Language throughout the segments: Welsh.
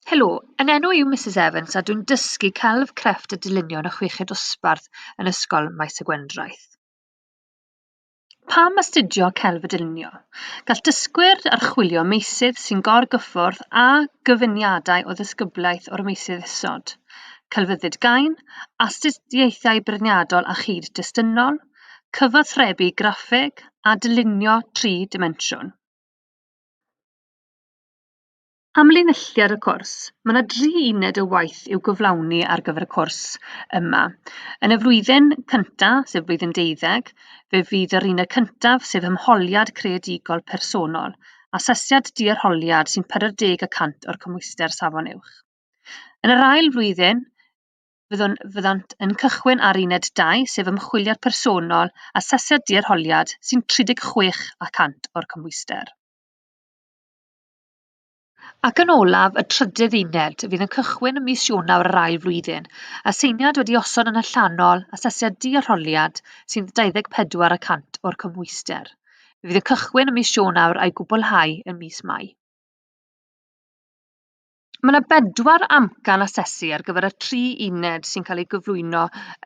Helo, yn enw yw Mrs Evans a dwi'n dysgu celf, crefft a dylunio yn y chweched dosbarth yn Ysgol Maes y Gwendraeth. Pam astudio celf a dylunio? Gall dysgwyr archwilio meysydd sy'n gorgyffwrdd â gyfuniadau o ddisgyblaeth o'r meysydd isod, celfyddyd gain, astudiaethau beirniadol a chyd destunol, cyfathrebu graffeg a dylunio tri dimensiwn. Amlinelliad y cwrs, Mae yna dri uned o waith i'w gyflawni ar gyfer y cwrs yma. Yn y flwyddyn cyntaf, sef blwyddyn deuddeg, fe fydd yr uned cyntaf, sef hymholiad creadigol personol, asesiad diarholiad sy'n 40 y cant o'r cymhwyster safon uwch. Yn yr ail flwyddyn, fyddwn, fyddant yn cychwyn ar uned 2, sef ymchwiliad personol, asesiad diarholiad sy'n 36 y cant o'r cymhwyster. Ac yn olaf, y trydydd uned, fydd yn cychwyn ym mis Ionawr yr ail flwyddyn. Aseiniad wedi osod yn allanol, asesiad du a rholiad, sy'n 24 y cant o'r cymhwyster. Fe fydd yn cychwyn ym mis Ionawr a'i gwblhau yn mis Mai. Mae 'na bedwar amcan asesu ar gyfer y tri uned sy'n cael eu gyflwyno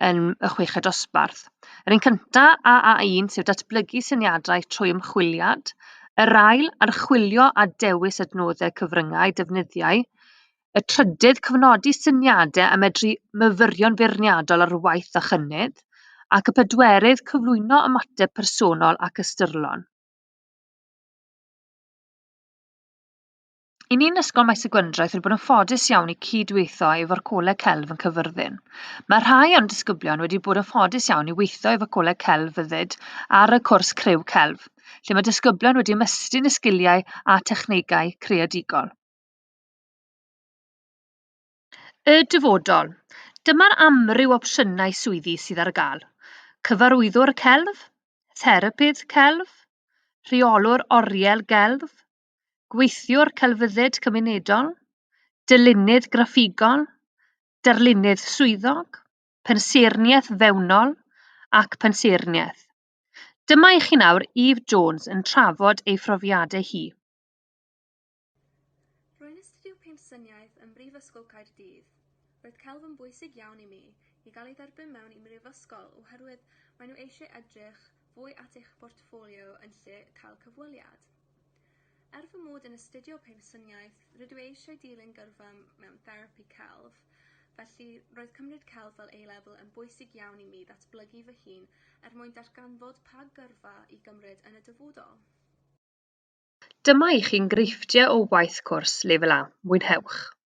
yn y chweched dosbarth. Yr un cynta, AA1, sef datblygu syniadau trwy ymchwiliad. Yr ail, archwilio a dewis adnoddau cyfryngau defnyddiau. Y trydydd, cyfnodi syniadau a medru myfyrio'n feirniadol ar waith a chynnydd. Ac y pedwerydd, cyflwyno ymateb personol ac ystyrlon. I ni'n Ysgol Maes y Gwendraeth wedi bod yn ffodus iawn i cyd-weithio efo'r Coleg Celf yn Cyfyrddin. Mae rhai o'n disgyblion wedi bod yn ffodus iawn i weithio efo Coleg Celf Fyddyd ar y cwrs Criw Celf, lle mae disgyblion wedi ymestyn y sgiliau a technegau creadigol. Y dyfodol. Dyma'r amryw opsiynau swyddi sydd ar gael. Cyfarwyddwr Celf, Therapydd Celf, Rheolwr Oriel Gelf, gweithiwr celfyddyd cymunedol, dylunydd graffigol, darlunydd swyddog, pensaernïaeth fewnol ac pensaernïaeth. Dyma i chi nawr Eve Jones yn trafod ei phrofiadau hi. Rwy'n astudio pensaernïaeth ym Mhrifysgol Caerdydd. Roedd celf yn bwysig iawn i mi, i gael ei dderbyn mewn i mhrifysgol oherwydd maen nhw eisiau edrych fwy at eich portffolio yn lle cael cyfweliad. Er fy mod yn astudio Patersoniaeth, rydw i eisiau dilyn gyrfa mewn therapi celf, felly roedd cymryd celf fel A-Level yn bwysig iawn i mi ddatblygu fy hun er mwyn darganfod pa gyrfa i gymryd yn y dyfodol. Dyma i chi enghreifftiau o waith cwrs Lefel A, mwynhewch!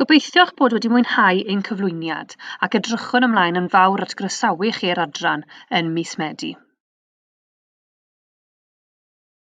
Gobeithio'ch bod wedi mwynhau ein cyflwyniad ac edrychwn ymlaen yn fawr at groesawu chi i'r adran yn mis Medi.